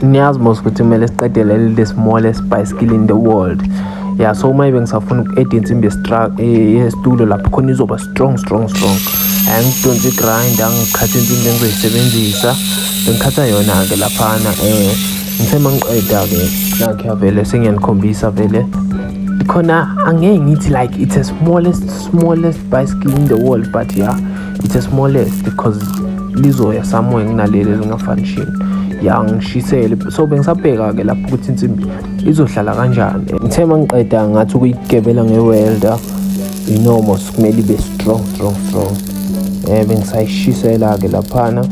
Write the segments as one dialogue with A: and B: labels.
A: niyazi mos ukuthi kumele siqede leli the smallest bicycle in the world ya so uma ibe ngisafuna uku-eda insimbi yesitulo eh, lapho khona izoba strong strong strong angidonsi igrind angikhatha insimbi engizoyisebenzisa bengikhatha yona-ke laphana um eh, ngithe ma ngiqeda-ke nakhe avele sengiyanikhombisa vele khona angeke ngithi like it's a smallest smallest bicycle in the world but ya yeah. it's a small earth because lizoya somewhere nginaleli elingafanishini ya ngishisele so bengisabheka-ke lapho ukuthi insimbi izohlala kanjani ngithe uma ngiqeda ngathi ukuyigebela nge-welder inomo sikumele ibe strong strong strong um bengisayishisela-ke laphana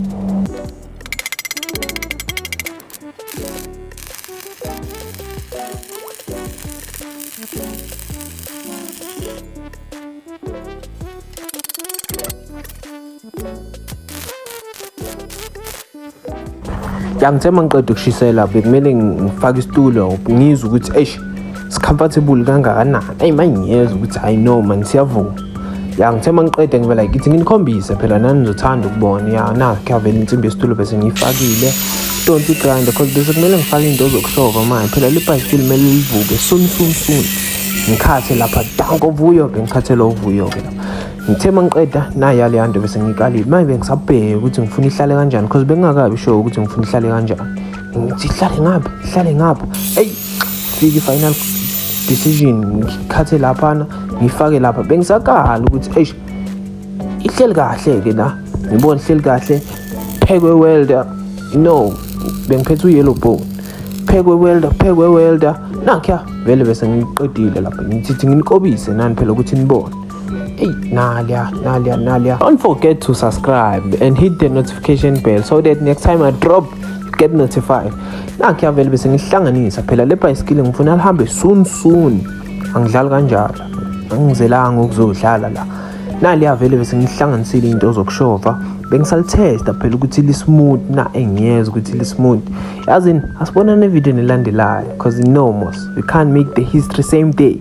A: yangithe uma ngiqeda ukushisela bekumele ngifake isitulo ngizwe ukuthi eish sikhamfathebuli kangakanani ayi mangiyezwa ukuthi hayi no mani siyavuma ya ngithe uma ngiqeda ngibe like ithi nginikhombise phela nani nizothanda ukubona ya na kuyavela insimbi yesitulo bese ngiyifakile donti grind because bese kumele ngifake into zokushova manje phela libhayisikili kumele livuke soon soon soon ngikhathe lapha danko vuyo-ke ngikhathele uvuyo-ke lapha ngithe uma ngiqeda naya leya nto bese ngiyikalile manje bengisabheke ukuthi ngifuna ihlale kanjani because bengingakabi sure ukuthi ngifuna ihlale kanjani Sihlale ngapha, sihlale ngapha. Hey, fiki final decision ngikhathe laphana ngifake lapha bengisakhala ukuthi eish ihleli kahle ke la ngibona ihleli kahle phekwe welder no bengiphethe uyellow bone phekwe welder phekwe welder nakya vele bese ngiqedile lapha ngithi nginikobise nani phela ukuthi nibone Hey, Nalia, Nalia, Nalia. Don't forget to subscribe and hit the notification bell so that next time I drop, get notified. Nakhe avele bese ngihlanganisa phela le bhayisikili ngifuna lihambe soon soon. Angidlali kanjalo. Angizelanga ukuzodlala la. Nali avele bese ngihlanganisile into zokushova. Bengisalitesta phela ukuthi li smooth na engiyeza ukuthi li smooth. Yazi asibona ne video nelandelayo because no more. We can't make the history same day.